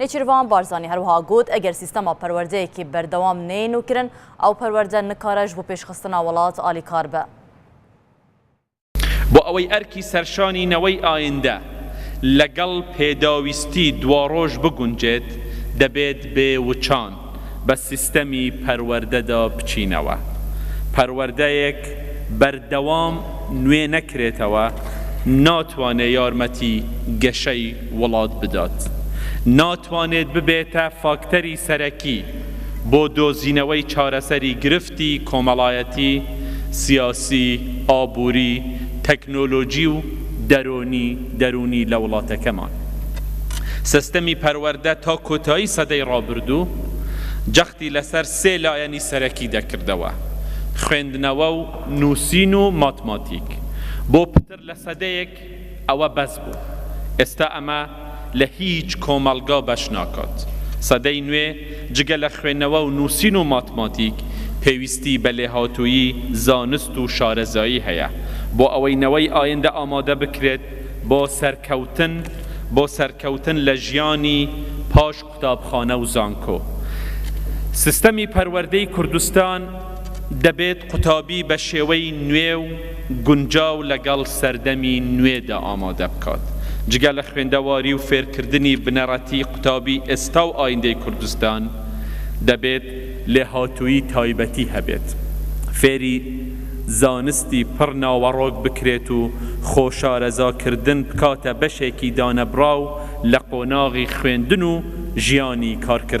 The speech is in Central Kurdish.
نێچیرڤان بارزانی هەروەها گوت، ئەگەر سیستەما پەروەردەیەکی بەردەوام نەیە نوکرن، ئەو پەروەردە نکارە ژ بۆ پێشخستنا وەڵات ئالیکار بئ. بۆ ئەوەی ئەرکی سەرشانی نەوەی ئایندە لەگەڵ پێداویستی دواڕۆژ بگونجێت، دەبێت بێ وچان، بە سیستەمی پەروەردەدا بچینەوە، پەروەردەیەک بەردەوام نوێ نەکرێتەوە ناتوانێت یارمەتی گەشەی وڵات بدات، ناتوانێت ببێتە فاکتەری سەرەکی بۆ دۆزینەوەی چارەسەری گرفت، گشتی، کۆمەڵایەتی، سیاسی، ئابووری، تەکنۆلۆجی و دەرۆنی، دەروونی، لە وڵاتەکەمان. سستمی پەروەردە تا کۆتایی سەدەی ڕابردوو جەختی لەسەر سێ لایەنی سەرەکی دەکردەوە، خوێندنەوە و نووسین و ماتماتیک، بۆ پتر لە سەدەیەک، ئەوە بەس بوو ئێستا ئەمە لە هیچ کۆمەڵگا بەش ناکات سەدەی نوێ جگە لە خوێنەوە و نووسین و ماتماتیک پێویستی بە لێهاتوویی زانست و شارەزایی هەیە بۆ ئەوەی نەوەی ئایندە ئامادە بکرێت بۆ سەرکەوتن بۆ سەرکەوتن لە ژیانی پاش قوتابخانە و زانکۆ. سیستەمی پەروەردەی کوردستان دەبێت قوتابی بە شێوەی نوێ و گونجاو لەگەڵ سەردەمی نوێدا ئامادە بکات. جگە لە خوێندەواری و فێرکردنی بنەڕەتی قوتابی ئێستا و ئایندەی کوردستان دەبێت لێهاتوویی تایبەتی هەبێت. فێری. زانستی پڕ ناوەڕۆک بکرێت و خۆشارەزاکردن بکاتە بەشێکی دانەبڕاو لە قۆناغی خوێندن و ژیانی کارکردن.